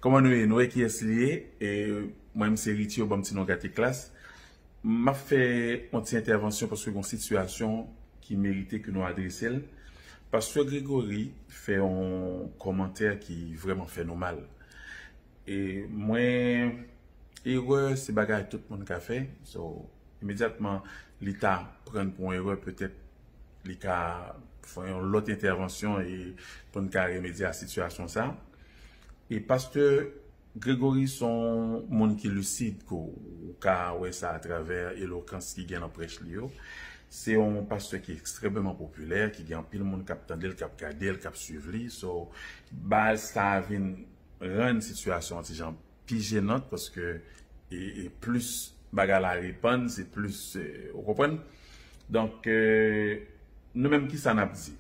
Koman nou ye nou wè kiyès li ye mwen m se Ritio banm ti non gate klas map fè yon ti entèvansyon paske gon sitiyasyon ki merite ke nou adrese l pastè Gregory fè yon kòmantè ki vrèman fè nou mal e mwen erè se bagay tout moun ka fè so imedyatman li ta pran pou yon erè petèt li ka fè yon lòt entèvansyon e pou n ka remedye a sitiyasyon sa. E pastè Gregory son moun ki lucide ke ou ka wè sa a travè elokans ki gen nan prèch li yo. Se yon pastè ki ekstrèmeman popilè, ki gen anpil moun k ap tande l, k ap gade l, k ap swiv li. So, baz sa a vin rann sitiyasyon an ti jan pi jenant paske e plis bagay la repann se plis ou konprann donk nou menm kisa nap di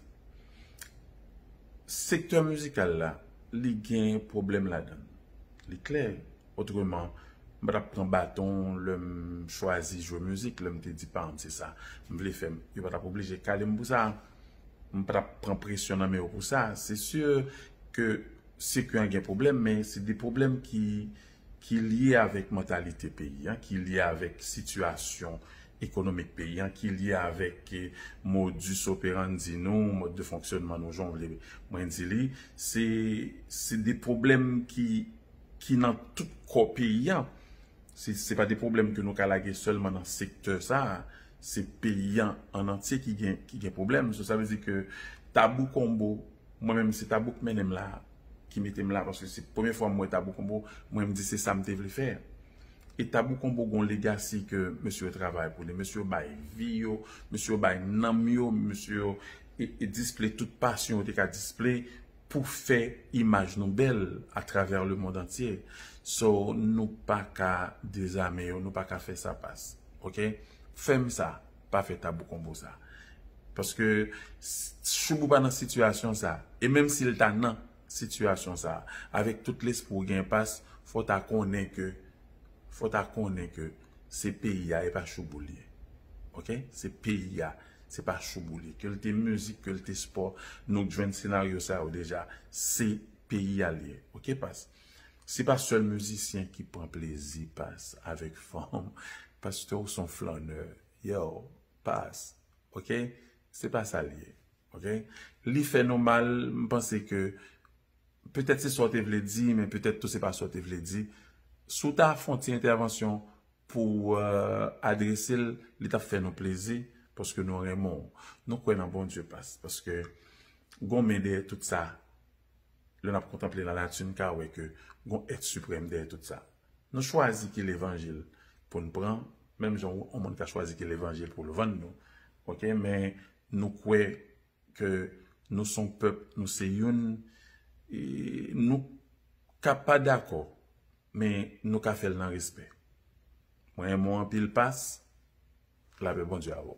sektè mizikal la li gen pwoblèm ladann li klè otreman m patap pran baton lèm chwazi jwe mizik lèm te di paranm se sa m vle fè yo patap oblije kalem pou sa m patap pran presyon nan men yo pou sa se si ke se ke an gen pwoblèm men se de pwoblèm ki ki lye avèk mantalite peyi an, ki lye avèk sitiyasyon ekonomik peyi an, ki lye avèk modus operandi nou, mòd de fonksyònman nou jan w vle mwen di li, se se de pwoblèm ki ki nan tout kò peyi an, se pa de pwoblèm ke nou ka lage sèlman nan sektè sa a, se peyi an an antye ki gen ki gen pwoblèm, sa vle di ke tabou konbo Mwen menm se tabou k mennenm la ki metem la paske se premye fwa m wè tabou konbo mwen m di se sam te vle fè e tabou konbo gon legasi ke mesye yo travay pou li mesye yo bay vi yo mesye yo bay nanm yo mesye yo e disple tout pasyon yo te ka disple pou fè imaj nou bèl atravè le mond antye so nou paka dezame yo nou paka fè sa pas ok fèm sa. pa fè tabou konbo sa. Paske Shoubou pa nan sitiyasyon sa. E menm si l ta nan sitiyasyon sa, avèk tout lespri w gen pas, fò w ta konnen ke, fò w ta konnen ke se peyi a e pa Shoubou l ye. Ok? Se peyi a, se pa Shoubou l ye. Ke l te mizik, ke l te spò, nou jwenn senaryo sa yo deja. Se peyi a l ye. Ok pas? Se pa sèl mizisyen ki pran plezi pas avèk fanm pastè ou son flannè yow pas ok se pa sa li ye ok li fè nou mal m panse ke petèt se sa w te vle di men petèt tou se pa sa w te vle di si w ta fon ti entèvansyon pou w adrese l li tap fè nou plezi paske nou renmen w nou kwè nan Bondye pas paske gon men dèyè tout sa. Lè n ap kontanple lanati, n ka wè ke gon èt siprèm dèyè tout sa. Nou chwazi ki levanjil pou n pran, menm jan yon moun ka chwazi ki levanjil pou l vann nou, ok, men nou kwè ke nou se yon pèp, nou se youn, nou ka pa dakò, men nou ka fè l nan respè. Mwen renmen w anpil Pas, lapè Bondye avè w.